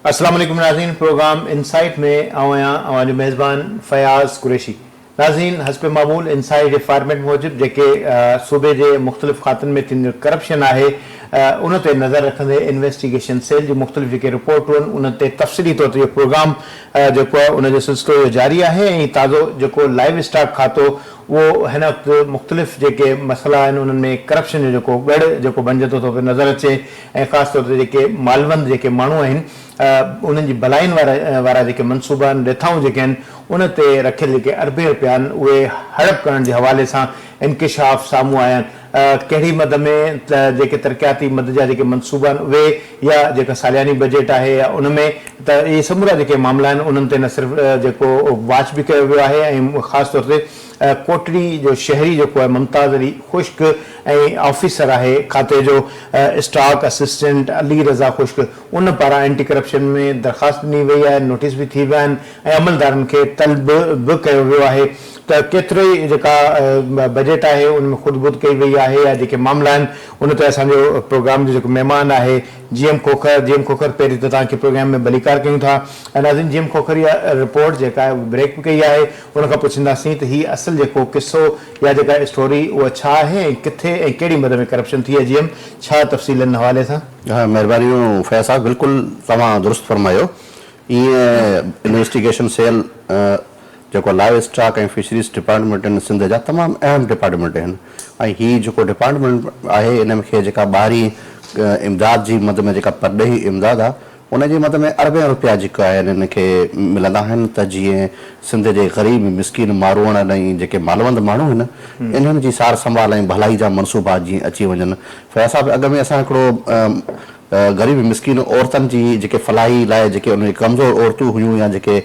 السلام عليڪم ناظرين پروگرام انسائيٽ ۾ آئون آهيان اوهان جو ميزبان فياض قريشي ناظرين حسب معمول اين سائي جي فارميٽ موجب جيڪي صوبي جي مختلف کاتن ۾ ٿيندڙ ڪرپشن آهي ان تي نظر رکندي انويسٽيگيشن سيل جون مختلف جيڪي رپورٽون آهن انهن تي تفصيلي طور تي اهو پروگرام جيڪو آهي ان جو سلسلو اهو جاري آهي ۽ تازو جيڪو لائيو اسٽاڪ کاتو اهو هن وقت مختلف جيڪي مسئلا آهن انهن ۾ ڪرپشن جو جيڪو ڳڙ جيڪو بنجندو ٿو پيو نظر اچي ۽ خاص طور تي جيڪي مالوند جيڪي ماڻهو آهن انهن جي ڀلائين وارا جيڪي منصوبا آهن، رٿائون جيڪي آهن، ان تي رکيل جيڪي اربين رپيا آهن، اهي هڙپ ڪرڻ جي حوالي سان انڪشاف سامهون آيا آهن. ڪهڙي مد ۾ ته جيڪي ترقياتي مد جا جيڪي منصوبا آهن، اهي يا جيڪا سالياني بجيٽ آهي يا ان ۾ ته اهي سمورا جيڪي معاملا آهن، انهن تي نه صرف جيڪو واچ به ڪيو ويو آهي ۽ خاص طور تي ڪوٽڙي جو شهري جيڪو آهي ممتاز علي خشڪ ۽ آفيسر آهي کاتي جو اسٽاڪ اسسٽنٽ علي رضا خشڪ، ان پاران اينٽي ڪرپشن ۾ درخواست ڏني وئي آهي، نوٽيس به ٿي ويا آهن ۽ عملدارن کي طلب به ڪيو ويو آهي ته ڪيترو ئي جيڪا بجيٽ آهي ان ۾ خود بد ڪئي وئي آهي يا جيڪي معاملا آهن ان تي اسان جو پروگرام جو جيڪو مهمان آهي G M Khokhar, G M Khokhar پهرين ته توهان کي پروگرام ۾ ڀليڪار ڪيون ٿا ۽ ناظرين جي ايم کوکر اها رپورٽ جيڪا آهي اها بريڪ به ڪئي آهي ان کان پڇنداسين ته هي اصل جيڪو قصو يا جيڪا اسٽوري اها ڇا آهي ۽ ڪٿي ۽ ڪهڙي مد ۾ ڪرپشن ٿي آهي جي ايم ڇا تفصيل ان حوالي سان. مھرباني فياض صاحب بلڪل توھان درست فرمايو ايئن انويسٽيگيشن سيل جيڪو لائيو اسٽاڪ ۽ فشريز ڊپارٽمينٽ ان سنڌ جا تمام اھم ڊپارٽمينٽ اھن ۽ ھي جيڪو ڊپارٽمينٽ آھي ان ۾ کي جيڪا ٻاھرين امداد جي مد ۾ جيڪا پرڏيھي امداد آ ان جي مد ۾ اربين روپيا جيڪا آھن ان کي ملندا آھن ته جيئن سنڌ جي غريب مسڪين ماروئڙن ۽ جيڪي مالوند ماڻھو اھن انھن جي سار سنڀال ۽ ڀلائي جا منصوبا جيئن اچي وڃن فياض صاحب اڳ ۾ اسان هڪڙو غريب مسڪين عورتن جي جيڪي فلاحي لاء جيڪي انهن جي ڪمزور عورتون هيون يا جيڪي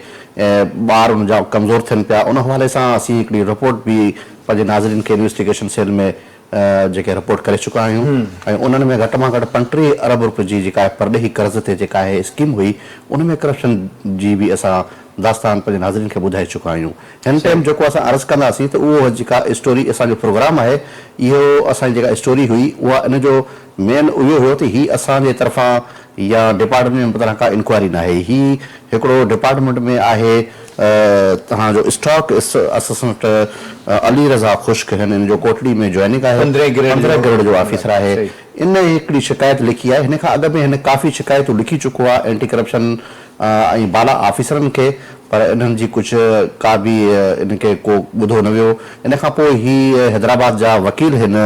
ٻار ان جا ڪمزور ٿين پيا ان حوالي سان اسين هڪڙي رپورٽ به پنهنجي ناظرين کي انويسٽيگيشن سيل ۾ جيڪي رپورٽ ڪري چڪا آهيون ۽ انهن ۾ گهٽ مان گهٽ پنٽيهه ارب رپين جي جيڪا پرڏيهي قرض تي جيڪا اهي اسڪيم هئي ان ۾ ڪرپشن جي به اسان داستان پنهنجن حاضرين کي ٻڌائي چڪا آهيون هن ٽيم جيڪو اسان عرض ڪنداسين ته اهو جيڪا اسٽوري اسان جو پروگرام آهي اهو اسان جي جيڪا اسٽوري هئي اها ان جو مين اهو هيو ته هي اسان جي طرفان يا ڊپارٽمينٽ جي طرفان ڪا انڪوائري ناهي هي هڪڙو ڊپارٽمينٽ ۾ آهي تهان جو اسٽاڪ اسسٽنٽ علي رضا خشڪ هن ان جو ڪوٽڙي ۾ جوائننگ آهي پندرهين گريڊ جو آفيسر آهي ان هڪڙي شڪايت لکي آهي هن کان اڳ ۾ هن ڪافي شڪايتون لکي چڪو آهي اينٽي ڪرپشن ۽ بالا آفيسرن کي پر انهن جي ڪجهه ڪا به ان کي ڪو ٻڌو نه ويو ان کان پوء هي حيدرآباد جا وڪيل هن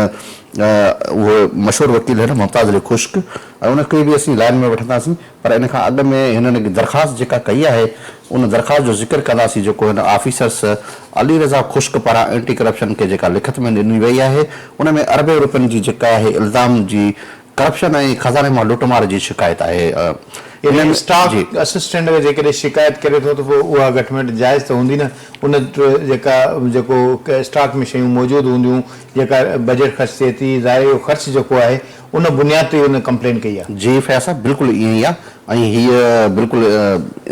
اهو مشهور وڪيل هن ممتاز علي خشڪ ۽ ان کي به اسين لائن ۾ وٺنداسين پر ان کان اڳ ۾ هنن هڪ درخواست جيڪا ڪئي آهي ان درخواست جو ذڪر ڪنداسين جيڪو هن آفيسرس علي رضا خشڪ پاران اينٽي ڪرپشن کي جيڪا لکت ۾ ڏني وئي آهي ان ۾ اربين روپين جي جيڪا آهي الزام جي ڪرپشن ۽ خزاني مان لٽ مار جي شڪايت آهي ان ۾ اسٽاڪ جي. اسسٽنٽ اگر جيڪڏهن شڪايت ڪري ٿو ته پوء اها گهٽميٽ جائز ته هوندي نه ان وٽ جيڪا جيڪو اسٽاڪ ۾ شيون موجود هونديون جيڪا بجيٽ خرچ ٿئي ٿي ظاهر اهو خرچ جيڪو آهي ان بنياد تي ان ڪمپلين ڪئي آهي. جي فياض صاحب بلڪل ائين ئي آهي ۽ هيء بلڪل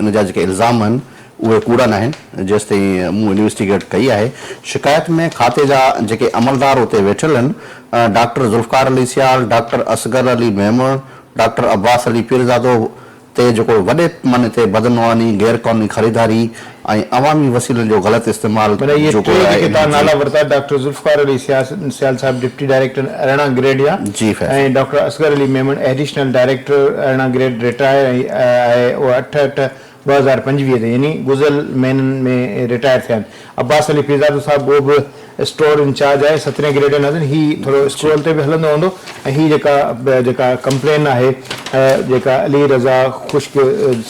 ان جا جيڪي الزام آهن اهي ڪوڙا ناهن جيستائين مون انويسٽيگيٽ ڪئي آهي، شڪايت ۾ کاتي جا جيڪي عملدار اتي ويٺل هن، doctor Zulfiqar Ali Sial, doctor Asghar Ali Memon, doctor Abbas Ali Pirzado تي جيڪو وڏي پيماني تي بدعنواني، غير قانوني خريداري ۽ عوامي وسيلن جو غلط استعمال معنيٰ اهي ٽي جيڪي توهان نالا ورتا ڊاڪٽر ذوالفقار علي سيال صاحب ڊپٽي ڊائريڪٽر ارڙهن گريڊ يا ۽ doctor Asghar Ali Memon additional director ارڙهن گريڊ رٽائر ۽ اهي اٺ اٺ ٻه هزار پنجويهه تي يعني گذريل مهينن ۾ رٽائر ٿيا آهن عباس علي پيرزادو صاحب اهو به اسٽور انچارج آهي سترهين گريڊ ناظرين هي ٿورو اسڪرول تي به هلندو هوندو ۽ هي جيڪا جيڪا ڪمپلين آهي جيڪا علي رضا خشڪ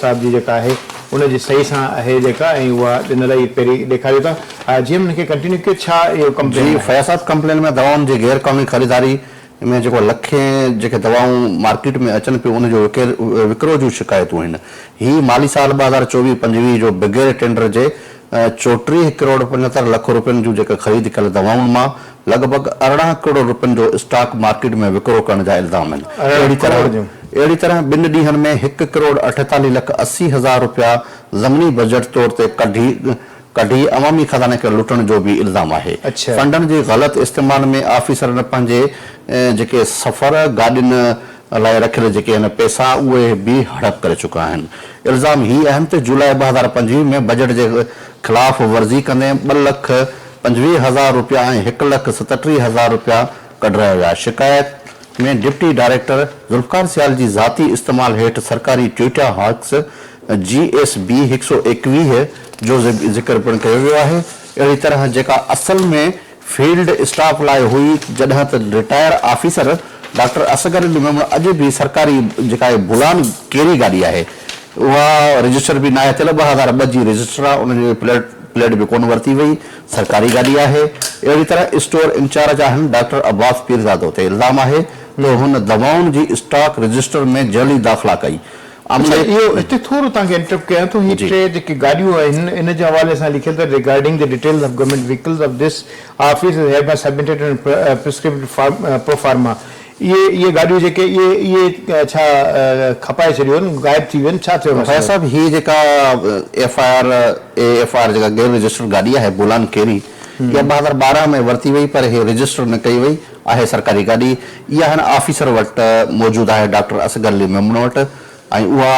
صاحب جي جيڪا آهي ان جي صحيح سان آهي جيڪا ۽ اها ڏنل آهي پهرين ڏيکاريو ٿا جي ايم ان کي ڪنٽينيو ڪيو ڇا اهو ڪمپلين جي فياض صاحب ڪمپلين ۾ دوائن جي غير قانوني خريداري ان ۾ جيڪو لکين جيڪي دوائون مارڪيٽ ۾ اچن پيون ان جو وڪرو جون شڪايتون آهن. هي مالي سال ٻه هزار چوويهه پنجويهه جو بغير ٽينڊر جي چوٽيهه ڪروڙ پنجهتر لک روپين جون جيڪي خريد ڪيل دوائن مان لڳ ڀڳ ارڙهن ڪروڙ روپين جو اسٽاڪ مارڪيٽ ۾ وڪرو ڪرڻ جا الزام آهن. اهڙي طرح اهڙي طرح ٻن ڏينهن ۾ هڪ ڪروڙ اٺيتاليهه لک اسي هزار روپيا ضمني بجيٽ طور تي ڪڍي ڪڍي عوامي خزاني کي لٽڻ جو به الزام آهي، فنڊن جي غلط استعمال ۾ آفيسرن پنهنجي جيڪي سفر گاڏين لاء رکيل جيڪي آهن پئسا اهي به هڙپ ڪري چڪا آهن، الزام هي آهن ته جولاء ٻه هزار پنجويهه ۾ بجيٽ جي خلاف ورزي ڪندي ٻه لک پنجويهه هزار رپيا ۽ هڪ لک ستٽيهه هزار رپيا ڪڍرايا ويا، شڪايت ۾ ڊپٽي ڊائريڪٽر ذوالفقار سيال جي ذاتي استعمال هيٺ سرڪاري ٽوئيٽا هاڪس جي ايس بي هڪ سؤ ايڪويهه جو ذڪر پڻ ڪيو ويو آهي، اهڙي طرح جيڪا اصل ۾ فيلڊ اسٽاف لاء هئي جڏهن ته retire officer doctor Asghar Ali Memon اڄ به سرڪاري جيڪا اهي بولان ڪيري گاڏي آهي اها رجسٽر به ناهي ٿيل ٻه هزار ٻه جي رجسٽر آهي ان جي پليٽ پليٽ به ڪونه ورتي وئي سرڪاري گاڏي آهي اهڙي طرح اسٽور انچارج آهن ڊاڪٽر عباس پيرزادو تي الزام آهي ته هن دوائن جي اسٽاڪ رجسٽر ۾ جعلي داخلا ڪئي عامر صاحب اهو هتي ٿورو توهان کي انٽرپٽ ڪيان ٿو هي ٽي جيڪي گاڏيون آهن ان جي حوالي سان لکيل اٿس regarding the details of government vehicles of this office is hereby submitted in prescribed form pro forma اهي اهي گاڏيون جيڪي اهي اهي ڇا کپائي ڇڏيو آهن غائب ٿي ويو آهن ڇا ٿيو فياض صاحب هي جيڪا F I R E F I R جيڪا غير رجسٽرڊ گاڏي آهي بولان ڪيري اها ٻه هزار ٻارهن ۾ ورتي وئي پر هي رجسٽر نه ڪئي وئي آهي سرڪاري گاڏي اها هن آفيسر وٽ موجود آهي ڊاڪٽر اصغر علي ميمڻ وٽ ۽ اها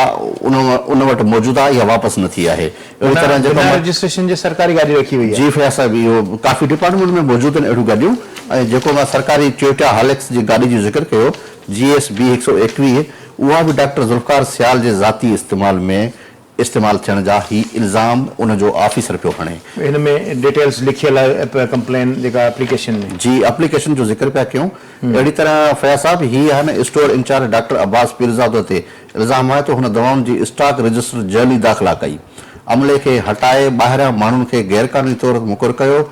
ان ان وٽ موجود آهي اها واپس نه ٿي آهي اهڙي طرح جيڪو بنا رجسٽريشن جي سرڪاري گاڏي رکي وئي آهي. جي فياض صاحب اهو ڪافي ڊپارٽمينٽ ۾ موجود آهن اهڙيون گاڏيون ۽ جيڪو مان سرڪاري ٽويوٽا هاليڪس جي گاڏي جو ذڪر ڪيو جي ايس بي هڪ سؤ ايڪويهه اها به ڊاڪٽر ذوالفقار سيال جي ذاتي استعمال ۾ استعمال ٿيڻ جا هي الزام ان جو آفيسر پيو هڻي. هن ۾ ڊيٽيلز لکيل آهي اپ ڪمپلين جيڪا اپليڪيشن ۾. جي اپليڪيشن جو ذڪر پيا ڪيون. اهڙي طرح فياض صاحب هي هن store incharge doctor Abbas Pirzado تي الزام آهي ته هن دوائن جي اسٽاڪ رجسٽر جعلي داخلا ڪئي عملي کي هٽائي ٻاهريان ماڻهن کي غير قانوني طور مقر ڪيو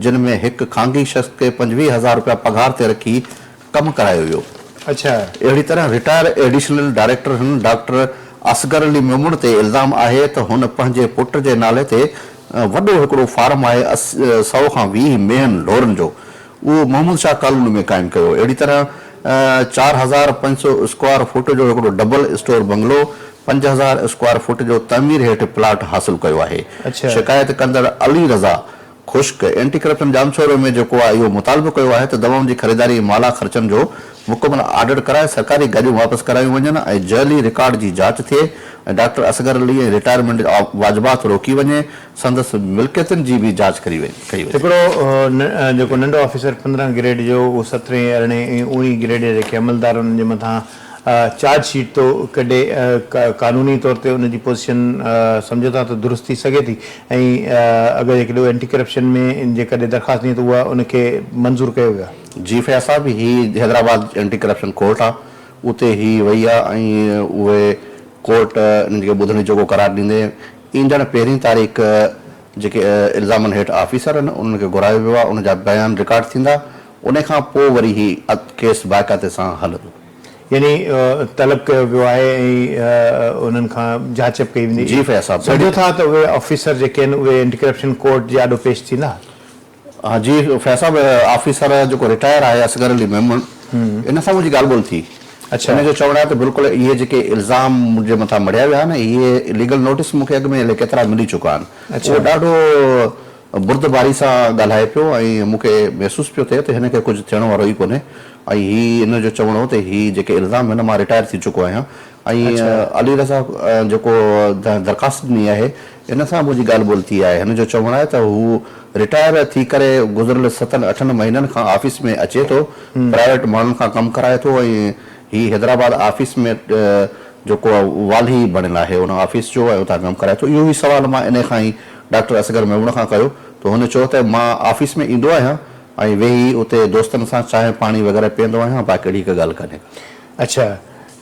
جن ۾ هڪ خانگي شخص کي پنجويهه هزار روپيا پگهار تي رکي ڪم ڪرايو ويو. اڇا. اهڙي طرح رٽائر ايڊيشنل ڊائريڪٽر هن ڊاڪٽر اصغر علي ميمڻ تي الزام آهي ته هن پنهنجي پٽ جي نالي تي وڏو هڪڙو فارم آهي سؤ کان ويهه ميهن ڍورن جو اهو محمد شاهه ڪالوني ۾ قائم ڪيو اهڙي طرح چار هزار پنج سؤ اسڪوائر فوٽ جو هڪڙو ڊبل اسٽور بنگلو پنج هزار اسڪوائر فوٽ جو تعمير هيٺ پلاٽ حاصل ڪيو آهي اڇا. شڪايت ڪندڙ علي رضا. خشڪ، اينٽي ڪرپشن ڄامشورو ۾ جيڪو آء اهو مطالبو ڪيو آهي ته دوائن جي خريداري ۽ مالها خرچن جو مڪمل آڊٽ ڪرائي سرڪاري گاڏيون واپس ڪرايون وڃن ۽ جعلي رڪارڊ جي جاچ ٿئي ۽ ڊاڪٽر اصغر علي ۽ رٽائرمينٽ واجبات روڪي وڃي ۽ سندس ملڪيتن جي به جاچ ڪئي وڃي. هڪڙو جيڪو ننڍو آفيسر پندرهن گريڊ جو اهو سترهين ارڙهين ۽ اوڻهين گريڊ جا جيڪي عملدار انهن جي مٿان چارج شيٽ تو ڪيڏي قانوني طور تي ان جي پوزيشن سمجهو ٿا ته درست ٿي سگهي ٿي ۽ اگر هڪ ڏو اينٽي ڪرپشن ۾ جيڪڏهن درخواست ڏيون ته اها ان کي منظور ڪيو ويو آهي. جي فياض صاحب هي حيدرآباد اينٽي ڪرپشن ڪورٽ آهي اتي هي وئي آهي ۽ اهي ڪورٽ انهن کي ٻڌڻي جوڳو قرار ڏيندي ايندڙ پهرين تاريخ جيڪي الزامن هيٺ آفيسر آهن انهن کي گهرايو ويو آهي ان جا بيان رڪارڊ ٿيندا ان کان پوء وري هي ڪيس باقاعدي سان هلندو. يعني طلب ڪيو ويو آهي ۽ انهن کان جاچ به ڪئي ويندي. جي فيا صاحب. سمجهو ٿا ته اهي آفيسر جيڪي آهن اهي اينٽي ڪرپشن ڪورٽ جي آڏو پيش ٿيندا؟ ها جي فيا صاحب آفيسر جيڪو رٽائر آهي اصغر علي ميمڻ ان سان منهنجي ڳالهه ٻولهه ٿي. ان جو چوڻ آهي ته بلڪل اهي جيڪي الزام منهنجي مٿان مڙهيا ويا آهن اهي ليگل نوٽيس مون کي اڳ ۾ الائي ڪيترا ملي چڪا آهن اهو ڏاڍو بردباري سان ڳالهائي پيو ۽ مون کي محسوس پيو ٿئي ته هن کي ڪجهه ٿيڻ وارو ئي ڪونهي ۽ هي ان جو چوڻ هو ته هي جيڪي الزام هن مان رٽائر ٿي چڪو آهيان ۽ علي رضا جيڪو درخواست ڏني آهي ان سان منهنجي ڳالهه ٻولهه ٿي آهي هن جو چوڻ آهي ته هو رٽائر ٿي ڪري گذريل ستن اٺن مهينن کان آفيس ۾ اچي ٿو پرائيويٽ ماڻهن کان ڪم ڪرائي ٿو ۽ هي حيدرآباد آفيس ۾ جيڪو والهي بڻيل آهي ان آفيس جو ۽ اتان ڪم ڪرائي ٿو اهو ئي سوال مان انهي کان ئي ڊاڪٽر اصغر ميمڻ کان ڪيو ته هن چيو ته مان آفيس ۾ ايندو آهيان ۽ ويهي اتي دوستن سان چانهه پاڻي وغيره پيئندو آهيان باقي اهڙي هڪ ڳالهه ڪانهي ڪا. اڇا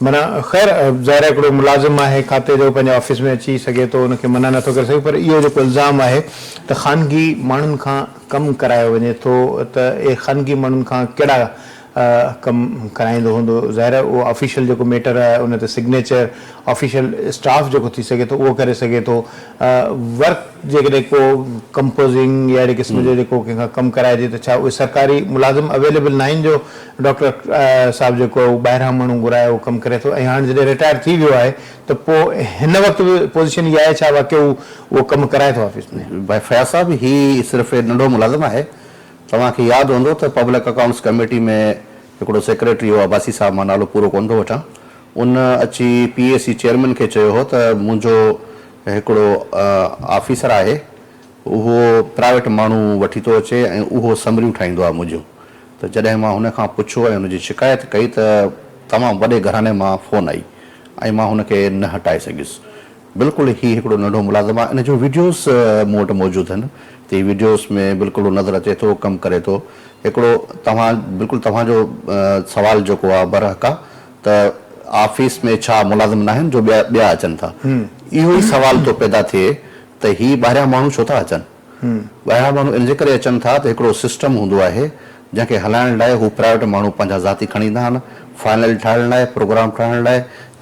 معنيٰ خير ظاهر آهي هڪڙو ملازم آهي کاتي جو پنهنجي آفيس ۾ اچي سگهي ٿو ان کي منع نٿو ڪري سگهي پر اهو جيڪو الزام آهي ته خانگي ماڻهن کان ڪم ڪرايو وڃي ٿو ته اهي خانگي ماڻهن کان ڪهڙا ڪم ڪرائيندو هوندو ظاهر آهي اهو آفيشل جيڪو ميٽر آهي ان تي سگنيچر آفيشل اسٽاف جيڪو ٿي سگهي ٿو اهو ڪري سگهي ٿو ورڪ جيڪڏهن ڪو ڪمپوزنگ يا اهڙي قسم جو جيڪو ڪنهن کان ڪم ڪرائجي ته ڇا اهي سرڪاري ملازم اويليبل ناهن جو ڊاڪٽر صاحب جيڪو آهي اهو ٻاهران ماڻهو گهرائي اهو ڪم ڪري ٿو ۽ هاڻ جڏهن رٽائر ٿي ويو آهي ته پوء هن وقت به پوزيشن اها آهي ڇا واقعي هو اهو ڪم ڪرائي ٿو آفيس ۾. فياض صاحب هي صرف ننڍو ملازم آهي توهان کي ياد هوندو ته پبلڪ اڪائونٽس ڪميٽي ۾ هڪڙو سيڪريٽري هو عباسي صاحب مان نالو پورو ڪونه ٿو وٺان ان اچي پي اي سي چيئرمين کي چيو هو ته منهنجو هڪڙو آفيسر آهي اهو پرائيويٽ ماڻهو وٺي ٿو اچي ۽ اهو سمريون ٺاهيندو آهي منهنجون ته جڏهن مان هن کان پڇو ۽ ان جي شڪايت ڪئي ته تمام وڏي گهراڻي مان فون آئي ۽ مان هن کي نه هٽائي سگهيس بلڪل هي هڪڙو ننڍو ملازم آهي ان جو وڊيوز مون وٽ موجود هن تي وڊيوز ۾ بلڪل نظر اچي ٿو ڪم ڪري ٿو هڪڙو توهان بلڪل توهان جو سوال جيڪو آهي برحق آهي ته آفيس ۾ ڇا ملازم ناهن جو ٻيا اچن ٿا اهو ئي سوال ٿو پيدا ٿئي ته هي ٻاهريان ماڻهو ڇو ٿا اچن. ٻاهران ماڻهو ان جي ڪري اچن ٿا ته هڪڙو سسٽم هوندو آهي جنهن کي هلائڻ لاء هو پرائيويٽ ماڻهو پنهنجا ذاتي کڻي ايندا آهن فائنل ٺاهڻ لاء پروگرام ٺاهڻ لاء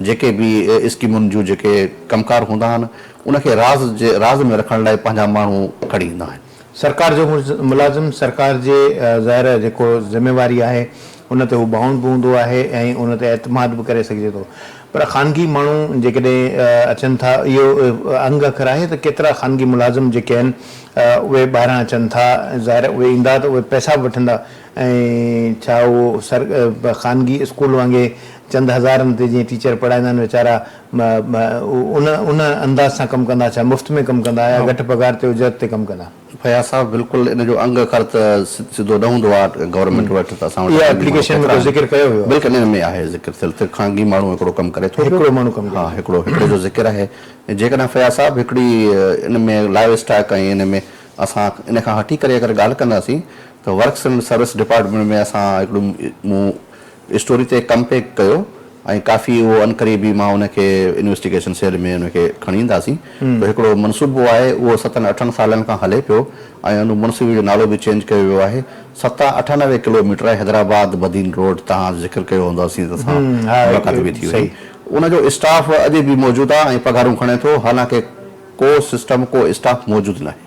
جيڪي به اسڪيمن جون جيڪي ڪم ڪار هوندا آهن ان کي راز جي راز ۾ رکڻ لاء پنهنجا ماڻهو کڻي ايندا آهن. سرڪار جو ملازم سرڪار جي ظاهر جيڪو ذميواري آهي. ان تي هو بائونڊ به هوندو آهي ۽ ان تي اعتماد به ڪري سگهجي ٿو پر خانگي ماڻهو جيڪڏهن اچن ٿا اهو انگ اکر آهي ته ڪيترا خانگي ملازم جيڪي آهن اهي ٻاهران اچن ٿا ظاهر اهي ايندا ته اهي پئسا به وٺندا ۽ ڇا اهو سر خانگي اسڪول وانگي چند هزارن تي جيئن ٽيچر پڙهائيندا آهن ويچارا ان ان انداز سان ڪم ڪندا ڇا مفت ۾ ڪم ڪندا يا گهٽ پگهار تي اجرت تي ڪم ڪندا. فياض صاحب بلڪل ان جو انگ اکر ته سڌو نه هوندو آ گورنمينٽ وٽ ته اسان وٽ اها اپليڪيشن ۾ ڪو ذڪر ڪيو ويو آ. بلڪل ان ۾ آهي ذڪر ٿيل ته خانگي ماڻهو هڪڙو ڪم ڪري ٿو پيو هڪڙو ماڻهو ڪم ها هڪڙو هڪڙي جو ذڪر آهي ۽ جيڪڏهن فياض صاحب هڪڙي ان ۾ لائيو اسٽاڪ ۽ ان ۾ اسان ان کان هٽي ڪري اگر ڳالهه ڪنداسين ته ورڪس اينڊ سروس ڊپارٽمينٽ ۾ اسان هڪڙو مون اسٽوري تي ڪم پيڪ ڪيو ۽ ڪافي اهو عنقريب ئي مان ان کي انويسٽيگيشن سيل ۾ ان کي کڻي اينداسين جو هڪڙو منصوبو آهي اهو ستن اٺن سالن کان هلي پيو ۽ ان منصوبي جو نالو به چينج ڪيو ويو آهي ستا اٺانوي ڪلوميٽر حيدرآباد بدين روڊ تهان ذڪر ڪيو هوندو اسين ته سان ملاقات به ٿي هئي ان جو اسٽاف اڄ به موجود آهي ۽ پگهارون کڻي ٿو حالانڪه ڪو سسٽم ڪو اسٽاف موجود ناهي.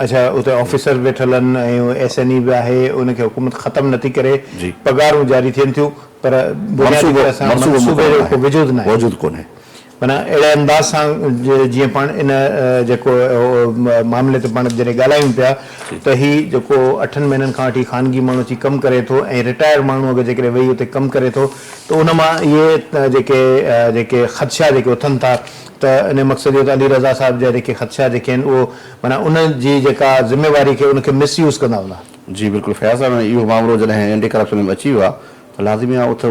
اڇا اتي آفيسر ويٺل آھن ۽ ايس اين اي به آھي ان کي حڪومت ختم نه ٿي ڪري پگھارون جاري ٿين ٿيون پر بنيادي طرح سان منصوبي جو ڪو وجود ناھي وجود ڪونھي معنيٰ اھڙي انداز سان جيئن پاڻ ان جيڪو معاملي تي پاڻ جڏھن ڳالھايون پيا ته ھي جيڪو اٺن مھينن کان وٺي خانگي ماڻھو اچي ڪم ڪري ٿو ۽ رٽائر ماڻھو اگر جيڪڏھن ويھي اتي ڪم ڪري ٿو ته ان مان اھي جيڪي جيڪي خدشا جيڪي اٿن ٿا ته انهيء مقصد جو ته علي رضا صاحب جا جيڪي خدشا جيڪي آهن اهو معنيٰ ان جي جيڪا ذميواري کي ان کي مس يوز ڪندا هوندا. جي بلڪل فياض صاحب ۽ اهو مامرو جڏهن اينٽي ڪرپشن ۾ اچي ويو آهي ته لازمي آهي اٿ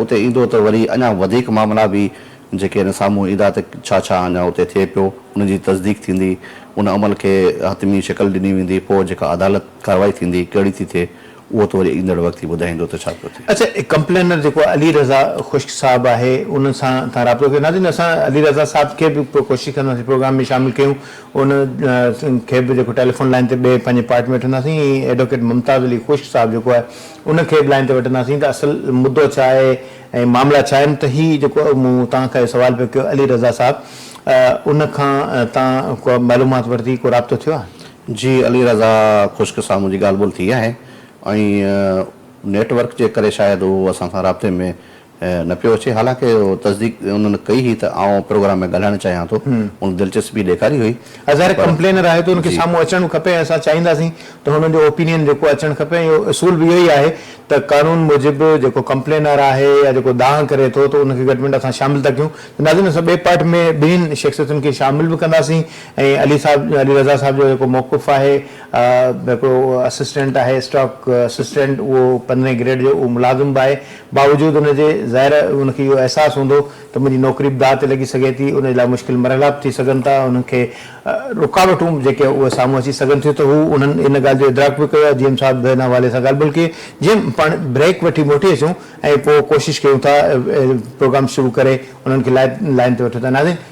اتي ايندو ته وري اڃا وڌيڪ مامرا به جيڪي آهن سامهون ايندا ته ڇا ڇا اڃا اتي ٿئي پيو ان جي تصديق ٿيندي ان عمل کي حتمي شڪل ڏني ويندي پوء جيڪا عدالت ڪارروائي ٿيندي ڪهڙي ٿي ٿئي اهو ته وري ايندڙ وقت ئي ٻڌائيندو ته ڇا پيو ٿئي. اچا هي ڪمپلينر جيڪو علي رضا خشڪ صاحب آهي ان سان توهان رابطو ڪيو. ناظرين اسان علي رضا صاحب کي به ڪوشش ڪنداسين پروگرام ۾ شامل ڪيون ان کي به جيڪو ٽيليفون لائين تي ٻئي پنهنجي پارٽ ۾ وٺنداسين ائين ئي ايڊووڪيٽ ممتاز علي خشڪ صاحب جيڪو آهي ان کي به لائين تي وٺنداسين ته اصل مدو ڇا آهي ۽ معاملا ڇا آهن ته هي جيڪو مون توهان کان اهو سوال پيو ڪيو علي رضا صاحب ان کان توهان ڪا معلومات ورتي ڪو رابطو ٿيو آهي. جي علي رضا خشڪ سان منهنجي ڳالهه ٻولهه ٿي آهي ۽ نيٽ ورڪ جي ڪري شايد هو اسان سان رابطي ۾ نه پيو اچي حالانڪه تصديق انهن ڪئي هئي ته آئون پروگرام ۾ ڳالهائڻ چاهيان ٿو هن دلچسپي ڏيکاري هئي ها ظاهر پر ڪمپلينر آهي ته ان کي جي. سامهون اچڻ کپي ۽ اسان چاهينداسين ته هنن جو اوپينين جيڪو آهي اچڻ کپي ۽ اهو اصول به اهو ئي آهي ته قانون موجب جيڪو ڪمپلينر آهي يا جيڪو دانهن ڪري ٿو ته ان کي گهٽ ۾ گهٽ اسان شامل ٿا ڪيون ته ناظرين اسان ٻئي پارٽ ۾ ٻنهين شخصيتن کي شامل به ڪنداسين ائين علي صاحب علي رضا صاحب جو جيڪو موقف آهي هڪڙو اسسٽنٽ آهي اسٽاڪ اسسٽنٽ اهو پندرهين گريڊ جو اهو ملازم به آهي باوجود ان جي ظاهر ان کي اهو احساس هوندو ته منهنجي نوڪري به داء تي لڳي سگهي ٿي ان جي لاء مشڪل مرحلا به ٿي سگهن ٿا انهن کي رڪاوٽون جيڪي اهي سامهون اچي سگهن ٿيون ته هو انهن ان ڳالهه جو ادراڪ به ڪيو آهي جي ايم صاحب به ان حوالي سان ڳالهه بلڪه جي ايم پاڻ بريڪ وٺي موٽي اچون ۽ پوء ڪوشش ڪيون ٿا پروگرام شروع ڪري انهن کي لائن تي وٺون ٿا ناظرين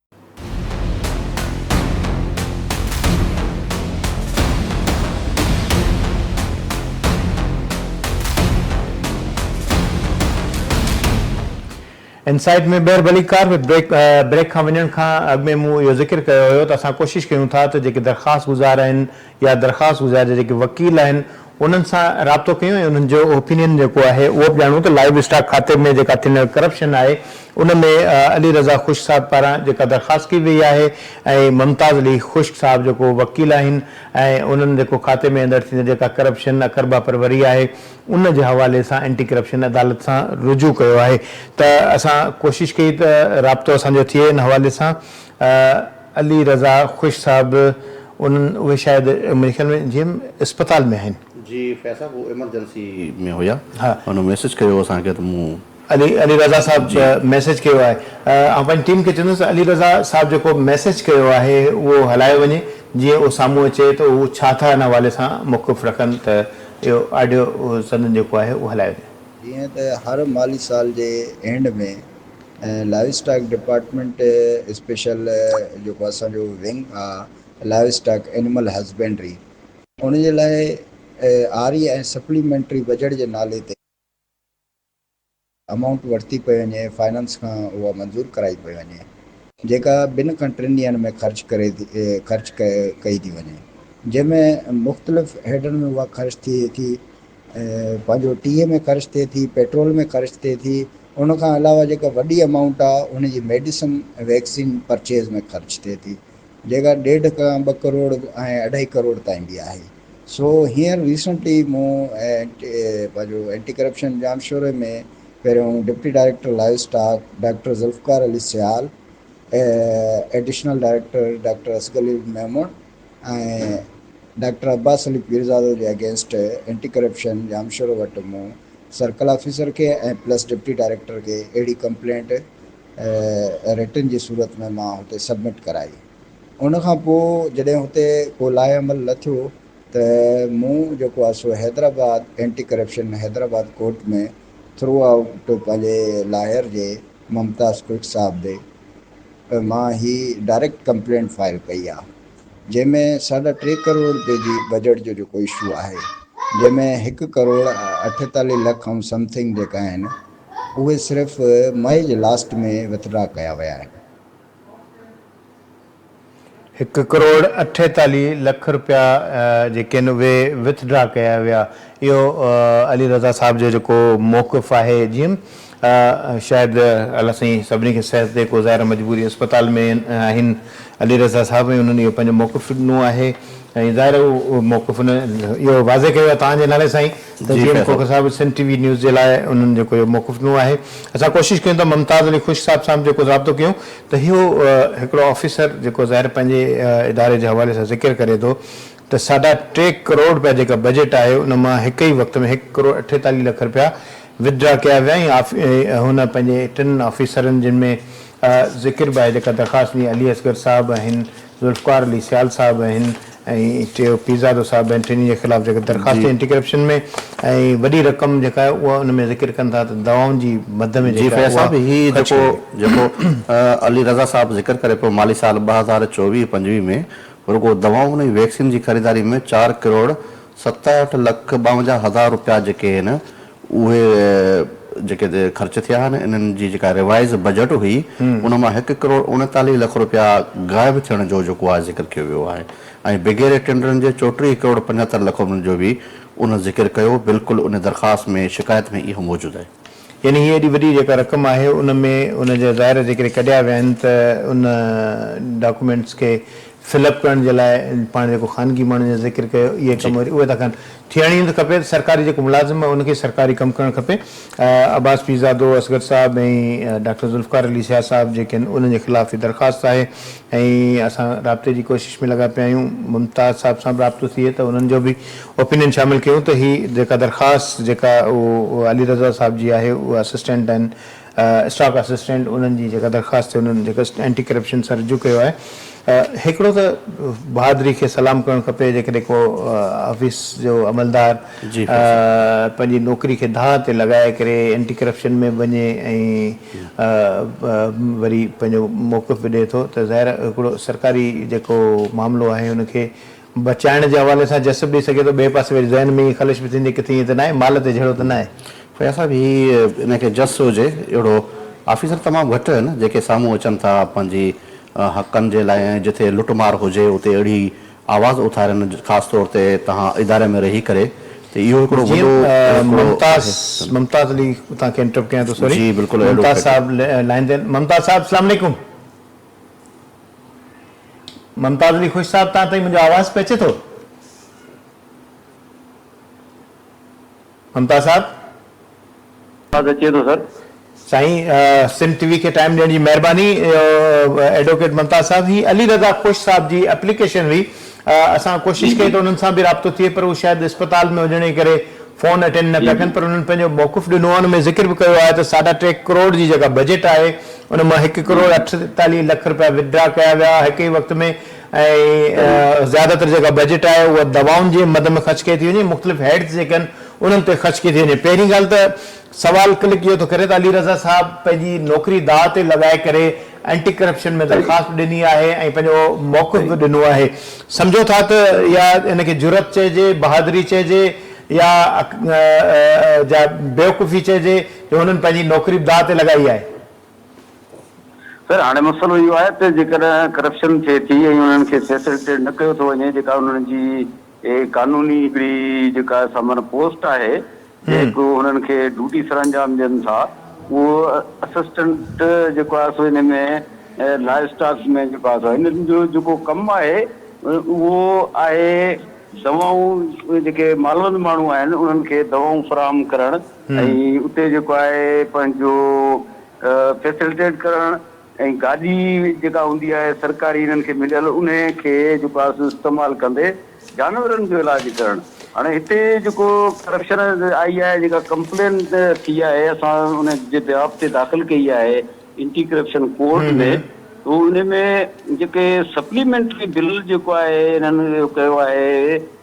ان سائيٽ ۾ ٻيهر ڀلي ڪار ۾ بريڪ کان وڃڻ کان اڳ ۾ مون اهو ذڪر ڪيو هيو ته اسان ڪوشش ڪيون ٿا ته جيڪي درخواست گذار آهن يا درخواست گذار جا جيڪي وڪيل آهن انهن سان رابطو ڪيو ۽ انهن جو اوپينين جيڪو آهي اهو به ڄاڻو ته لائيو اسٽاڪ کاتي ۾ جيڪا ٿيندڙ ڪرپشن آهي ان ۾ علي رضا خشڪ صاحب پاران جيڪا درخواست ڪئي وئي آهي ۽ ممتاز علي خشڪ صاحب جيڪو وڪيل آهن ۽ انهن جيڪو کاتي ۾ اندڙ ٿيندڙ جيڪا ڪرپشن اقربا پروري آهي ان جي حوالي سان اينٽي ڪرپشن عدالت سان رجوع ڪيو آهي ته اسان ڪوشش ڪئي ته رابطو اسان جو ٿئي ان حوالي سان علي رضا خوش صاحب انهن اهي شايد منهنجي خيال ۾ جي ايم اسپتال ۾ آهن. جي فيض صاحب هو ايمرجنسي ۾ هيا هن ميسيج ڪيو هو اسان کي ته مون. علي علي رضا صاحب ميسيج ڪيو آهي آئون پنهنجي ٽيم کي چوندس ته علي رضا صاحب جيڪو ميسيج ڪيو آهي اهو هلايو وڃي جيئن اهو سامهون اچي ته هو ڇا ٿا ان حوالي سان موقف رکن ته اهو آڊيو سندن جيڪو آهي اهو هلايو وڃي. جيئن ته هر مالي سال جي end ۾. ۽ Livestock department special جيڪو اسان جو ونگ آ لائيو اسٽاڪ اينمل هزبينڊري ان جي لاء آري ۽ سپليمينٽري بجيٽ جي نالي تي امائونٽ ورتي پئي وڃي فائنانس کان اها منظور ڪرائي پئي وڃي جيڪا ٻن کان ٽن ڏينهن ۾ خرچ ڪري خرچ ڪئي ٿي وڃي جنهن ۾ مختلف هيڊن ۾ اها خرچ ٿئي ٿي پنهنجو ٽيهه ۾ خرچ ٿئي ٿي پيٽرول ۾ خرچ ٿئي ٿي ان کان علاوه جيڪا وڏي امائونٽ آ ان جي ميڊيسن ۽ ويڪسين پرچيز ۾ خرچ ٿئي ٿي جيڪا ڏيڍ کان ٻه ڪروڙ ۽ اڍائي ڪروڙ تائين به آهي سو هينئر ريسنٽلي مون پنهنجو اينٽي ڪرپشن جام شوري ۾ پهريون deputy director livestock doctor Zulfiqar Ali Sial additional director doctor اسگلي ميمڻ ۽ ڊاڪٽر عباس علي پيرزادو جي اگينسٽ اينٽي ڪرپشن ڄامشورو وٽ مون سرڪل آفيسر کي ۽ پلس ڊپٽي ڊائريڪٽر کي اهڙي ڪمپلينٽ رٽن جي صورت ۾ مان هتي سبمٽ ڪرائي. ان کان پوء جڏهن هتي ڪو لاهي عمل نه ٿيو ته مون جيڪو آهي سو Hyderabad anti corruption Hyderabad court ۾ throughout پنهنجي لاهر جي ممتاز ڪلڪ صاحب به ته مان هي ڊائريڪٽ ڪمپلينٽ فائل ڪئي آ جنهن ۾ ساڍا ٽي ڪروڙ رپي جي بجيٽ جو جيڪو اشو آهي جنهن ۾ هڪ ڪروڙ اٺيتاليهه لک ۽ سم ٿنگ جيڪا آهن اهي صرف مئي جي لاسٽ ۾ وٿ ڊرا ڪيا ويا آهن. هڪ ڪروڙ اٺيتاليهه لک رپيا جيڪي آهن اهي وٿ ڊرا ڪيا ويا اهو علي رضا صاحب جو جيڪو موقف آهي جيم شايد الله سائين سڀني کي صحت ڏي ڪو ظاهر مجبوري اسپتال ۾ آهن علي رضا صاحب ۽ انهن اهو پنهنجو موقف ڏنو آهي ۽ ظاهر اهو موقف اهو واضح ڪيو ويو آهي توهان جي نالي سائين ته جي ايم کوکر صاحب سنڌ ٽي وي نيوز جي لاء انهن جيڪو اهو موقف ڏنو آهي اسان ڪوشش ڪيون ته ممتاز علي خوش صاحب سان به جيڪو رابطو ڪيون ته اهو هڪڙو آفيسر جيڪو ظاهر پنهنجي اداري جي حوالي سان ذڪر ڪري ٿو ته ساڍا ٽي ڪروڙ رپيا جيڪا بجيٽ آهي ان مان هڪ ئي وقت ۾ هڪ ڪروڙ اٺيتاليهه لک رپيا وٿڊرا ڪيا ويا ۽ هن پنهنجي ٽن آفيسرن جن ۾ ذڪر به آهي جيڪا درخواست ڏني علي اصغر صاحب آهن ذوالفقار علي سيال صاحب آهن ۽ ٽيو پيرزادو صاحب آهن ٽنهي جي خلاف جيڪي درخواست اينٽي ڪرپشن ۾ ۽ وڏي رقم جيڪا آهي اها ان ۾ ذڪر ڪن ٿا ته دوائن جي مد ۾ جيڪا آهي اها خرچ ڪئي وئي. جيڪو علي رضا صاحب ذڪر ڪري پيو مالي سال ٻه هزار چوويهه پنجويهه ۾ رڳو دوائن ۽ ويڪسين جي خريداري ۾ چار ڪروڙ ستهٺ لک ٻاونجاهه هزار روپيا جيڪي آهن اهي جيڪي خرچ ٿيا آهن انهن جي جيڪا ريوائيز بجيٽ هئي ان مان هڪ ڪروڙ اڻيتاليهه لک رپيا غائب ٿيڻ جو جيڪو آهي ذڪر ڪيو ويو آهي ۽ بگهيري ٽينڊرن جي چوٽيهه ڪروڙ پنجهتر لک رپين جو به ان ذڪر ڪيو بلڪل ان درخواست ۾ شڪايت ۾ اهو موجود آهي. يعني هي ايڏي وڏي جيڪا رقم آهي ان ۾ ان جا ظاهر ذڪر ڪڍيا ويا آهن ته ان ڊاڪومينٽس کي فل اپ ڪرڻ جي لاء پاڻ جيڪو خانگي ماڻهن جا ذڪر ڪيو اهي ڪم وري اهي ٿا ڪن ٿيڻ ئي نه کپي ته سرڪاري جيڪو ملازم آهي ان کي سرڪاري ڪم ڪرڻ کپي عباس پيرزادو، اصغر صاحب ۽ ڊاڪٽر ذوالفقار علي شاهه صاحب جيڪي آهن انهن جي خلاف هي درخواست آهي ۽ اسان رابطي جي ڪوشش ۾ لڳا پيا آهيون ممتاز صاحب سان به رابطو ٿئي ته انهن جو به اوپينين شامل ڪيون ته هي جيڪا درخواست جيڪا علي رضا صاحب جي آهي اها اسسٽنٽ ڊن اسٽاڪ اسسٽنٽ انهن جي جيڪا درخواست تي انهن جيڪا اينٽي ڪرپشن سان رجوع ڪيو آهي هڪڙو ته بهادري کي سلام ڪرڻ کپي جيڪڏهن ڪو آفيس جو عملدار پنهنجي نوڪري کي دانهن تي لڳائي ڪري اينٽي ڪرپشن ۾ به وڃي ۽ وري پنهنجو موقف به ڏئي ٿو ته ظاهر هڪڙو سرڪاري جيڪو معاملو آهي ان کي بچائڻ جي حوالي سان جسب ڏئي سگهي ٿو، ٻئي پاسي وري ذهن ۾ ائين خلش به ٿيندي ڪٿي ائين ته ناهي، مال تي جهيڙو ته ناهي. فياض صاحب هي ان کي جس هجي اهڙو آفيسر تمام گهٽ آهن جيڪي سامهون اچن ٿا پنهنجي حقن جي لاء ۽ جتي لٽ مار هجي اتي اهڙي آواز اٿارين خاص طور تي توهان اداري ۾ رهي ڪري ته اهو هڪڙو جي وڏو هڪڙو ممتاز آهي ممتاز علي توهان کي انٽرپٽ ڪيان ٿو سوري جي بلڪل اهڙو ممتاز ٿئي ٿو. صاحب لائين تي آهن ممتاز صاحب اسلام عليڪم. ممتاز علي خوش صاحب تان تائين منهنجو آواز پهچي ٿو؟ ممتاز صاحب. آواز اچي ٿو سر. سائين سنڌ ٽي وي کي ٽائيم ڏيڻ جي مهرباني ايڊووڪيٽ ممتاز صاحب هي علي رضا خوش صاحب جي اپليڪيشن هئي اسان ڪوشش ڪئي ته انهن سان به رابطو ٿئي پر هو شايد اسپتال ۾ هجڻ جي ڪري فون اٽينڊ نه پيا ڪن پر انهن پنهنجو موقف ڏنو آهي ان ۾ ذڪر به ڪيو آهي ته ساڍا ٽي ڪروڙ جي جيڪا بجيٽ آهي ان مان هڪ ڪروڙ اٺيتاليهه لک رپيا وٿڊرا ڪيا ويا هڪ ئي وقت ۾ ۽ زياده تر جيڪا بجيٽ آهي اها دوائن جي مد ۾ خرچ ڪئي ٿي وڃي مختلف هيڊز جيڪي آهن انهن تي خرچ ڪئي ٿي وڃي پهرين ڳالهه ته سوال ڪلڪ اهو ٿو ڪري ته علي رضا صاحب پنهنجي نوڪري داء تي لڳائي ڪري اينٽي ڪرپشن ۾ درخواست به ڏني آهي ۽ پنهنجو موقف به ڏنو آهي سمجهو ٿا ته اها ان کي جرئت چئجي بهادري چئجي يا جا بيوقوفي چئجي جو هنن پنهنجي نوڪري به داء تي لڳائي آهي. خير هاڻي مسئلو اهو آهي ته جيڪڏهن ڪرپشن ٿئي ٿي ۽ انهن کي فيسلٽيٽ نه ڪيو ٿو وڃي جيڪا انهن جي هي قانوني هڪڙي جيڪا سمر پوسٽ آهي جيڪ هنن کي ڊوٽي سرانجام ڏين ٿا اهو اسسٽنٽ جيڪو آهي سو ان ۾ لائيو اسٽاڪ ۾ جيڪو آهي سو هنن جو جيڪو ڪم آهي اهو آهي دوائون جيڪي مالوند ماڻهو آهن انهن کي دوائون فراهم ڪرڻ ۽ اتي جيڪو آهي پنهنجو فيسلٽيٽ ڪرڻ ۽ گاڏي جيڪا هوندي آهي سرڪاري هنن کي مليل انهي کي جيڪو آهي سو استعمال ڪندي جانورن جو علاج ڪرڻ هاڻي هتي جيڪو ڪرپشن آئي آهي جيڪا ڪمپلين ٿي آهي اسان ان جي بيهاف تي داخل ڪئي آهي انٽي ڪرپشن ڪورٽ ۾ تو انهي ۾ جيڪي سپليمينٽري بل جيڪو آهي هنن ڪيو آهي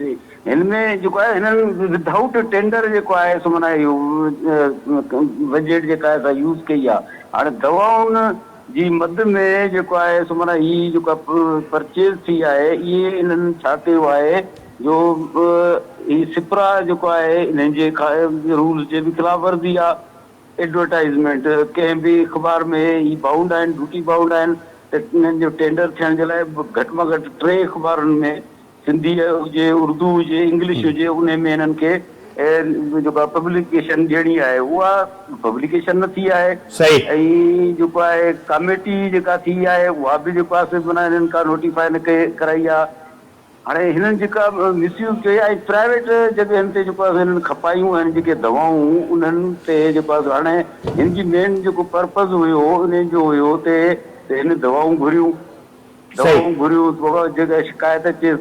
جي هن ۾ جيڪو آهي هن ود آئوٽ ٽينڊر جيڪو آهي سو معنيٰ اهو بجيٽ جيڪا آهي سا يوز ڪئي آهي هاڻي دوائن جي مد ۾ جيڪو آهي سو معنيٰ هي جيڪا پرچيز ٿي آهي اهي انهن ڇا ڪيو آهي جو هي سپرا جيڪو آهي انهن جي رولز جي به خلاف ورزي آهي ايڊورٽائزمينٽ ڪنهن به اخبار ۾ هي بائونڊ آهن ڊيوٽي بائونڊ آهن ته انهن جو ٽينڊر ٿيڻ جي لاء گهٽ مان گهٽ ٽي اخبارن ۾ سنڌي هجي، اردو هجي، انگلش هجي انهي ۾ هنن کي جيڪا پبليڪيشن ڏيڻي آهي اها پبليڪيشن نه ٿي آهي ۽ جيڪو آهي ڪاميٽي جيڪا ٿي آهي اها به جيڪو آهي سي معنيٰ هنن ڪا نوٽيفائي نه ڪئي ڪرائي آهي هاڻي هنن جيڪا مس يوز ڪئي آهي ۽ پرائيويٽ جڳهين تي جيڪو آهي سي هنن کپايون آهن جيڪي دوائون انهن تي جيڪو آهي سو هاڻي هن جي مين جيڪو پرپز هيو انهي جو هيو تي هن دوائون گهريون دواؤن گهريون تو کان جيڪا شڪايت اچي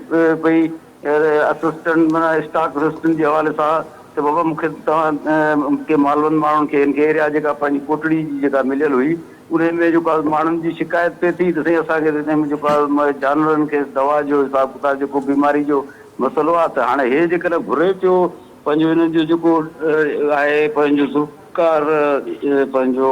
پئي اسسٽنٽ معنيٰ اسٽاڪ اسسٽنٽ جي حوالي سان ته بابا مون کي توهان ڪي مالوند ماڻهن کي هن کي ايريا جيڪا پنهنجي ڪوٽڙي جي جيڪا مليل هئي انهي ۾ جيڪو آ ماڻهن جي شڪايت پئي ٿي ته سائين اسان کي انهي ۾ جيڪو آ جانورن کي دوا جو حساب ڪتاب جيڪو بيماري جو مسئلو آ ته هاڻي هي جيڪڏهن گهري پيو پنهنجو هنن جو جيڪو آهي پنهنجو ذوالفقار پنهنجو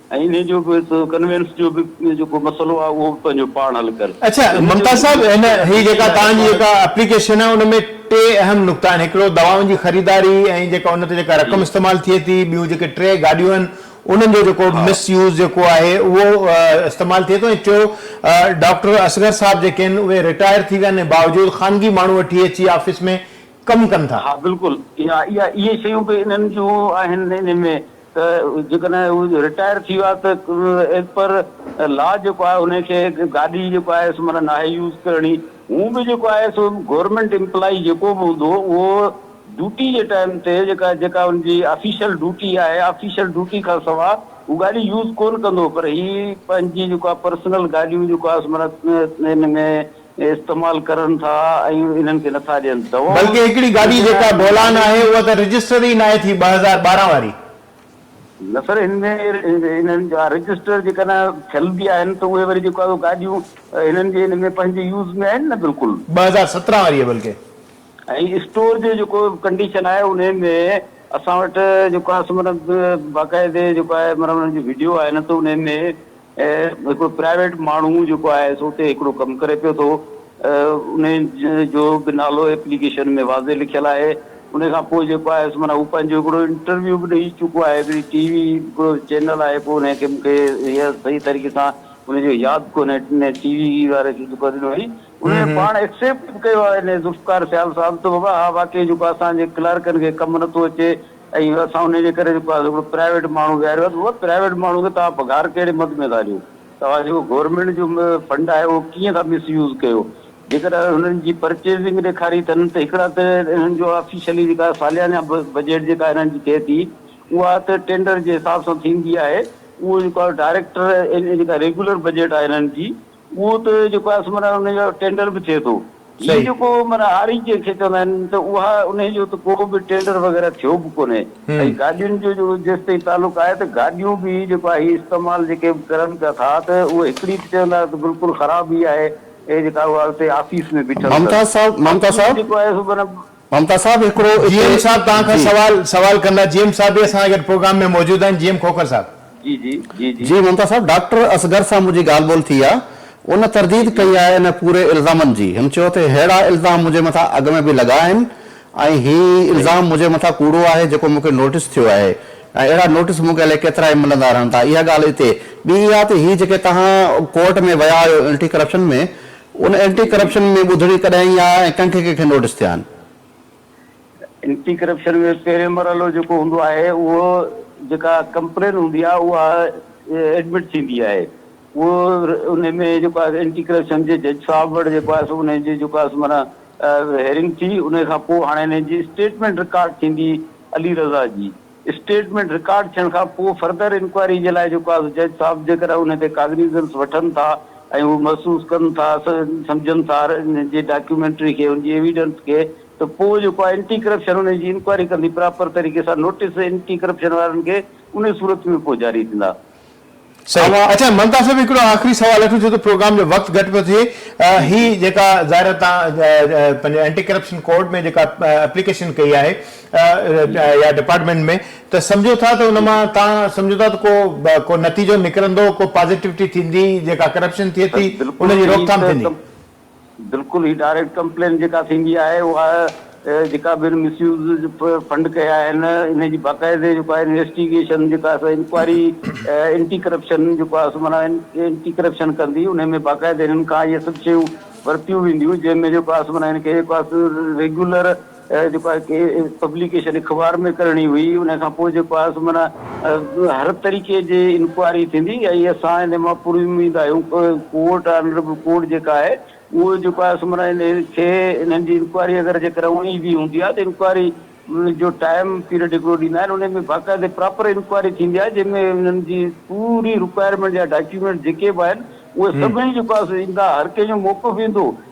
۽ انهي جو به ڪنوينس جو به جيڪو مسئلو آهي اهو به پنهنجو پاڻ حل ڪر. اڇا ممتاز صاحب هن هي جيڪا توهان جي جيڪا اپليڪيشن آهي ان ۾ ٽي اهم نقطا آهن هڪڙو دوائن جي خريداري ۽ جيڪا ان تي جيڪا رقم استعمال ٿئي ٿي ٻيون جيڪي ٽي گاڏيون آهن انهن جو جيڪو مس يوز جيڪو آهي اهو استعمال ٿئي ٿو ۽ ٽيو ڊاڪٽر اصغر صاحب جيڪي آهن اهي رٽائر ٿي ويا آهن ۽ باوجود خانگي ماڻهو وٺي اچي آفيس ۾ ڪم ڪن ٿا. ها بلڪل اها اها اهي شيون به انهن جون آهن انهي ۾ ته جيڪڏهن هو رٽائر ٿي ويا ته ايز پر لا جيڪو آهي انهي کي گاڏي جيڪو آهي سو معنيٰ ناهي يوز ڪرڻي هون به جيڪو آهي سو گورنمينٽ امپلائي جيڪو به هوندو اهو ڊيوٽي جي ٽائيم تي جيڪا جيڪا ان جي آفيشل ڊيوٽي آهي آفيشل ڊيوٽي کان سوا هو گاڏي يوز ڪون ڪندو پر هي پنهنجي جيڪو آهي پرسنل گاڏيون جيڪو آهي سو معنيٰ ان ۾ استعمال ڪرن ٿا ۽ انهن کي نٿا ڏين دوائون بلڪه هڪڙي گاڏي جيڪا بولان آهي اها ته رجسٽر ئي ناهي ٿي ٻه هزار ٻارهن واري. نه سر هن ۾ انهن جا رجسٽر جيڪا نه ٿيل به آهن ته اهي وري جيڪو آهي گاڏيون هنن جي ان ۾ پنهنجي يوز ۾ آهن نه بلڪل. ٻه هزار سترهن واري بلڪه. ۽ اسٽور جو جيڪو ڪنڊيشن آهي انهي ۾ اسان وٽ جيڪو آهي سو مطلب باقاعدي جيڪو آهي مطلب انهن جي وڊيو آهي نه ته انهي ۾ ۽ هڪڙو پرائيويٽ ماڻهو جيڪو آهي سو اتي هڪڙو ڪم ڪري پيو ٿو ان جو به نالو ايپليڪيشن ۾ واضح لکيل آهي ان کان پوء جيڪو آهي سو معنيٰ هو پنهنجو هڪڙو انٽرويو به ڏئي چڪو آهي هڪڙي ٽي وي هڪڙو چينل آهي پوء ان کي مون کي هي صحيح طريقي سان ان جو ياد ڪونهي ان ٽي وي واري کي جيڪو ڏنو هئي ان ۾ پاڻ ايڪسيپٽ به ڪيو آهي ان ذوالفقار سيال صاحب ته بابا ها واقعي جيڪو اسان جي ڪلارڪن کي ڪم نٿو اچي ۽ اسان انهي جي ڪري جيڪو آهي هڪڙو پرائيويٽ ماڻهو ويهاريو آهي هو پرائيويٽ ماڻهو کي توهان پگهار ڪهڙي مد ۾ ٿا ڏيو توهان جيڪو گورنمينٽ جو فنڊ آهي اهو ڪيئن ٿا مس يوز ڪيو جيڪڏهن انهن جي پرچيزنگ ڏيکاري ٿن ته هڪڙا ته انهن جو آفيشلي جيڪا ساليانه بجيٽ جيڪا انهن جي ٿئي ٿي اها ته ٽينڊر جي حساب سان ٿيندي آهي اهو جيڪو آهي ڊائريڪٽر جيڪا ريگيولر بجيٽ آهي انهن جي اهو ته جيڪو آهي سو معنيٰ ان جو ٽينڊر به ٿئي ٿو. هي جيڪو معنيٰ هاري جنهن کي چوندا آهن ته اها انهي جو ته ڪو به ٽينڊر وغيره ٿيو به ڪونهي ۽ گاڏين جو جيڪو جيستائين تعلق آهي ته گاڏيون به جيڪو آهي هي استعمال جيڪي به ڪرن پيا ٿا ته اهي هڪڙي ته چوندا ته بلڪل خراب ئي آهي ۽ جيڪا اها اتي آفيس ۾ بيٺل اٿن. آفيس جيڪو آهي سو معنيٰ ممتاز صاحب هڪڙو جي اتي ايم صاحب توهان کان جي. سوال سوال ڪندا جي ايم صاحب به اسان سان گڏ پروگرام ۾ موجود آهن جي ايم کوکر صاحب. جي جي جي جي. جي ممتاز صاحب ڊاڪٽر اصغر سان منهنجي ڳالهه ٻولهه ٿي آ ان جي ترديد جي. ڪئي آهي انهن پوري الزامن جي هن چيو ته ههڙا الزام منهنجي مٿان اڳ ۾ به لڳا آهن ۽ هي صحيح. الزام منهنجي مٿان ڪوڙو آهي جيڪو مونکي نوٽيس ٿيو آهي ۽ اهڙا نوٽيس مونکي الائي ڪيترا ئي ملندا رهن ٿا اها ڳالهه اتي ٻي اها ته هي جيڪي توهان ڪورٽ ۾ ويا آهيو انٽي ڪرپشن ۾ ان اينٽي ڪرپشن ۾ ٻڌڻي ڪڏهن ايئن آيا ۽ ڪنکي ڪنکي نوٽس ٿيا آهن؟ اينٽي ڪرپشن ۾ پهرين مرحلو جيڪو هوندو آهي اهو جيڪا ڪمپلين هوندي آهي اها ايڊمٽ ٿيندي آهي اهو ان ۾ جيڪو آهي اينٽي ڪرپشن جي جج صاحب وٽ جيڪو آهي سو ان جي جيڪو آهي معنيٰ هيئرنگ ٿي ان کان پوء هاڻي ان جي اسٽيٽمينٽ رڪارڊ ٿيندي علي رضا جي اسٽيٽمينٽ رڪارڊ ٿيڻ کان پوء فردر انڪوائري جي لاء جيڪو آهي سو جج صاحب جيڪڏهن ان تي ڪاگنيزنس وٺن ٿا ۽ هو محسوس ڪن ٿا سمجهن ٿا ان جي ڊاڪيومينٽري کي ان جي ايويڊنس کي ته پوء جيڪو آهي انٽي ڪرپشن ان جي انڪوائري ڪندي پراپر طريقي سان نوٽيس انٽي ڪرپشن وارن کي ان صورت ۾ پوء جاري ٿيندا. صحيح اچا ممتا صاحب هڪڙو آخري سوال اٺو ڇو ته پروگرام جو وقت گهٽ پيو ٿئي هي جيڪا ظاهر تان پنهنجي اينٽي ڪرپشن ڪورٽ ۾ جيڪا اپليڪيشن ڪئي آهي يا ڊپارٽمينٽ ۾ ته سمجهو ٿا ته ان مان تان سمجهو ٿا ته ڪو ڪو نتيجو نڪرندو ڪو پازيٽيوٽي ٿيندي جيڪا ڪرپشن ٿئي ٿي ان جي روڪٿام ٿيندي بلڪل هي ڊائريڪٽ ڪمپلين جيڪا ٿيندي آهي اها جيڪا به مس يوز فنڊ ڪيا آهن انهن جي باقاعدي جيڪو آهي انويسٽيگيشن جيڪا آهي سا انڪوائري اينٽي ڪرپشن جيڪو آهي سو معنيٰ اينٽي ڪرپشن ڪندي انهن ۾ باقاعدي انهن کان اهي سڀ شيون ورتيون وينديون جنهن ۾ جيڪو آهي سو معنيٰ ان کي جيڪو آهي سو ريگيولر جيڪو آهي ڪي پبليڪيشن اخبار ۾ ڪرڻي هئي ان کان پوء جيڪو آهي سو معنيٰ هر طريقي جي انڪوائري ٿيندي ۽ اسان ان مان پوري اميد آهيون ڪورٽ آنريبل ڪورٽ جيڪا آهي اهو جيڪو آهي سو معنيٰ ان کي انهن جي انڪوائري اگر جيڪر اوڻي بي هوندي آهي ته انڪوائري جو ٽائيم پيريڊ هڪڙو ڏيندا آهن ان ۾ باقاعدي پراپر انڪوائري ٿيندي آهي جنهن ۾ انهن جي پوري رڪوائرمينٽ جا ڊاڪيومينٽ جيڪي به آهن اهي سڀئي جيڪو آهي سو ايندا هر ڪنهن جو موقف ايندو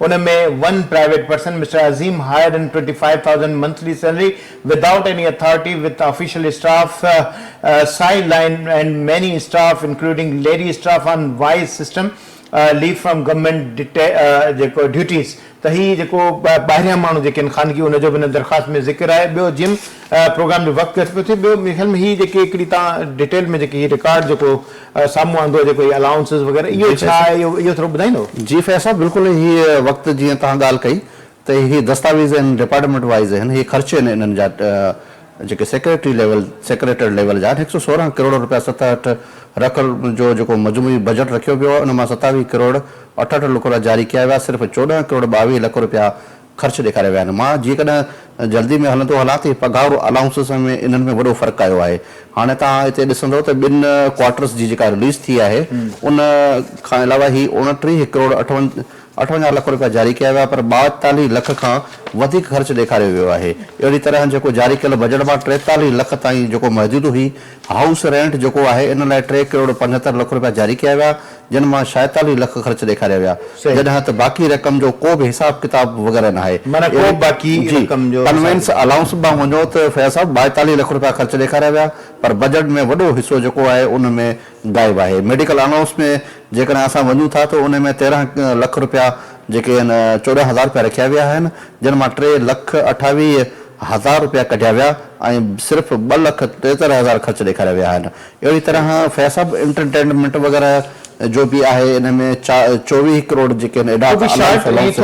ان ۾ one private person mister Azeem hired in twenty five thousand monthly salary without any authority with official staff side line and many staff including lady staff on wise system leave from government جيڪو duties ته هي جيڪو ٻاهريان ماڻهو جيڪي آهن خانگي ان جو به ان درخواست ۾ ذڪر آهي ٻيو جم پروگرام جو وقت گهٽ پيو ٿئي ٻيو ميري خيال ۾ هي جيڪي هڪڙي تان ڊيٽيل ۾ جيڪي هي رڪارڊ جيڪو سامهون آندو آهي جيڪو هي الائونسز وغيره اهو ڇا آهي اهو ٿورو ٻڌائيندو. جي فيض صاحب بلڪل هي وقت جيئن توهان ڳالهه ڪئي ته هي دستاويز ان ڊپارٽمينٽ وائيز آهن هي خرچ آهن انهن جا جيڪي سيڪريٽري ليول سيڪريٽريٽ ليول جا آهن هڪ سئو سورهن ڪروڙ رپيا ستهٺ رک جو جيڪو مجموعي بجيٽ رکيو ويو آهي ان مان ستاويهه ڪروڙ اٺهٺ لکرا جاري ڪيا ويا صرف چوڏهن ڪروڙ ٻاويهه لک رپيا خرچ ڏيکاريا ويا آهن. مان جيڪڏهن جلدي ۾ هلندو هلان ته پگهار الائونسز ۽ انهن ۾ وڏو فرق آيو آهي. هاڻي توهان هتي ڏسندؤ ته ٻن ڪوارٽرز جي جيڪا رليز ٿي آهي ان کان علاوه هي اوڻٽيهه ڪروڙ اٺونجاهه لک روپيا جاري ڪيا ويا پر ٻائيتاليهه لک کان وڌيڪ خرچ ڏيکاريو ويو آهي. اهڙي طرح جيڪو جاري ڪيل بجيٽ مان ٽيتاليهه لک تائين جيڪو محدود هئي، هائوس رينٽ جيڪو آهي ان لاء ٽي ڪروڙ پنجهتر لک رپيا جاري ڪيا ويا جن مان شايتاليهه لک خرچ ڏيکاريا ويا جڏهن ته باقي رقم جو ڪو به حساب ڪتاب وغيره ناهي جي ڪنوينس الائونس ڏانهن وڃو ته فياض صاحب ٻائيتاليهه لک رپيا خرچ ڏيکاريا ويا پر بجيٽ ۾ وڏو حصو جيڪو آهي ان ۾ غائب آهي ميڊيڪل الائونس ۾ جيڪڏهن اسان وڃون ٿا ته ان ۾ تيرهن لک رپيا جيڪي هن چوڏهن هزار رپيا رکيا ويا آهن جن مان ٽي لک اٺاويهه هزار رپيا ڪڍيا ويا ۽ صرف ٻه لک ٽيهتر هزار خرچ ڏيکاريا ويا آهن اهڙي طرح فياض صاحب انٽرٽينمينٽ وغيره جو به آهي ان ۾ چوويهه ڪروڙ جيڪي هن ايڊاٽ الائونس الائونس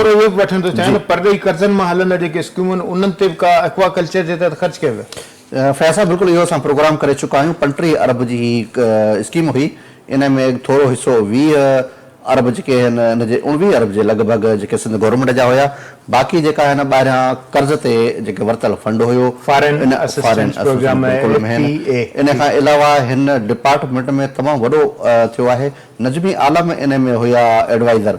جي. پرڏيهي قرضن مان هلندڙ جيڪي اسڪيمون آهن انهن تي به ڪا ايڪوا ڪلچر جي تحت خرچ ڪيا ويا. فياض صاحب بلڪل اهو اسان پروگرام ڪري چڪا آهيون پنٽيهه ارب جي هي اسڪيم هئي ان ۾ ٿورو حصو ويهه ارب جيڪي آهن ان جي اڻويهه ارب جي لڳ ڀڳ جيڪي سنڌ گورنمينٽ جا هيا باقي جيڪا آهن ٻاهريان قرض تي جيڪي ورتل فنڊ هيو foreign assistance programme F A A ان کان علاوه هن ڊپارٽمينٽ ۾ تمام وڏو ٿيو آهي نجمي عالم انهي ۾ هيا ايڊوائيزر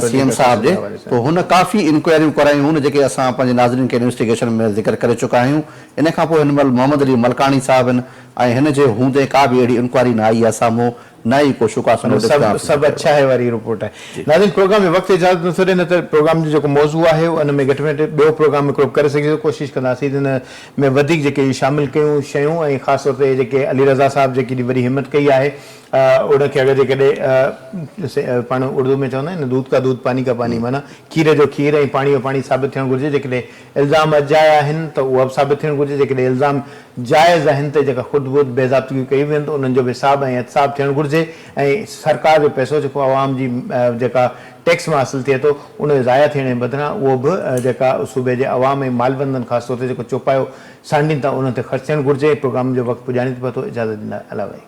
سي ايم صاحب جي تو هن ڪافي انڪوائريون ڪرايون هون جيڪي اسان پنهنجي ناظرين کي انويسٽيگيشن ۾ ذڪر ڪري چڪا آهيون انهي کان پوء هن مهل محمد علي ملڪاڻي صاحب هن ۽ هن جي هوندي ڪا به اهڙي انڪوائري نه آئي آهي سامهون نه ئي ڪو شوڪاس نوٽيس ڪنهن آفيسر کي ڏنو آهي. ناظرين پروگرام جو وقت اجازت نه ٿو ڏئي نه ته پروگرام جو جيڪو موضوع آهي ان ۾ گهٽ ۾ گهٽ ٻيو پروگرام هڪڙو ڪري سگهجي ٿو ڪوشش ڪنداسين ته ان ۾ وڌيڪ جيڪي شامل ڪيون شيون ۽ خاص طور تي جيڪي علي رضا صاحب جيڪي ايڏي وڏي همت ڪئي آهي ان کي اگر جيڪڏهن پاڻ اردو ۾ چوندا آهن نه دود ڪا دود پاني ڪا پاني معنيٰ کير جو کير ۽ پاڻي جو پاڻي ثابت ٿيڻ گهرجي جيڪڏهن الزام اجايا آهن ته اهو به ثابت ٿيڻ گهرجي جيڪڏهن الزام جائز آهن ته جيڪا خود بخود بيضابطگيون ڪيون ويون ته انهن جو به حساب ۽ احتساب ٿيڻ گهرجي ۽ سرڪار جو پئسو جيڪو عوام جي جيڪا ٽيڪس مان حاصل ٿئي ٿو ان جو ضايع ٿيڻ جي بدران اهو به جيڪا صوبي جي عوام ۽ مالبندن خاص طور تي جيڪو چوپايو سانڍين ٿا انهن تي خرچ ٿيڻ گهرجي پروگرام جو وقت پڄاڻي ٿو پتو اجازت ڏنل آهي